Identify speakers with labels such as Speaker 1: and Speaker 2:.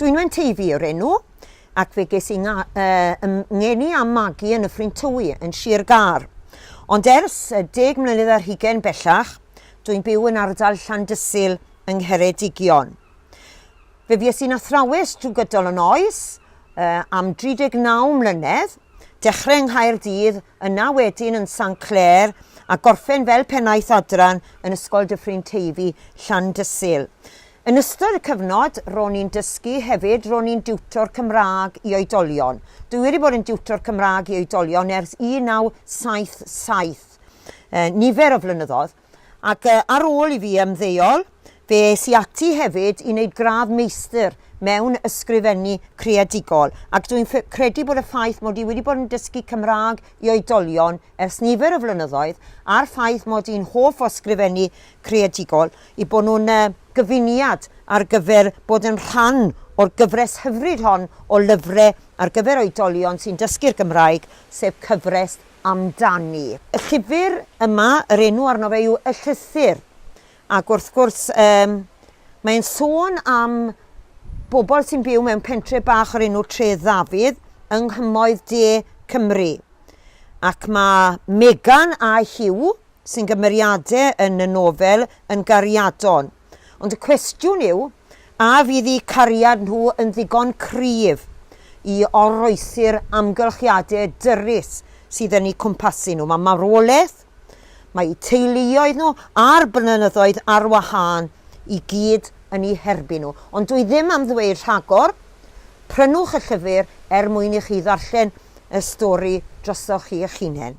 Speaker 1: Dwi'n Wen Teifi yw'r enw, ac fe ges i nga, uh, ym ngeni a magu yn y Ffrind Tywi, yn Sir Gar. Ond ers uh, deg mlynedd ar hugen bellach, dwi'n byw yn ardal Llandysul yng Ngheredigion. Fe fues i'n athrawes drwy gydol yn oes, uh, am 39 mlynedd, dechrau yng Nghaerdydd, yna wedyn yn San Clair, a gorffen fel pennaeth adran yn Ysgol Dyffryn Teifi, Llandysul. Yn ystod y cyfnod, ro'n i'n dysgu, hefyd, ro'n i'n diwtor Cymraeg i oedolion. Dwi wedi bod yn diwtor Cymraeg i oedolion ers 1977, nifer o flynyddoedd, ac ar ôl i fi ymddeol, fe es i ati hefyd i wneud gradd meistr mewn ysgrifennu creadigol, ac dwi'n credu bod y ffaith mod i wedi bod yn dysgu Cymraeg i oedolion ers nifer o flynyddoedd a'r ffaith mod i'n hoff o sgrifennu creadigol i bod nhw'n gyfuniad ar gyfer bod yn rhan o'r gyfres hyfryd hon o lyfrau ar gyfer oedolion sy'n dysgu'r Gymraeg, sef cyfres Amdani. Y llyfr yma, yr enw arno fe yw Y Llythyr, Ac wrth gwrs, um, mae'n sôn am bobl sy'n byw mewn pentre bach o'r enw Tre Ddafydd yng nghymoedd de Cymru. Ac mae Megan a Hugh, sy'n gymeriadau yn y nofel, yn gariadon. Ond y cwestiwn yw, a fydd eu cariad nhw yn ddigon cryf i oroesi'r amgylchiadau dyrus sydd yn eu cwmpasu nhw. Mae marwolaeth, Mae eu teuluoedd nhw a'r blynyddoedd ar wahân i gyd yn eu herbyn nhw. Ond dwi ddim am ddweud rhagor, prynwch y llyfr er mwyn i chi ddarllen y stori drosoch chi eich hunain.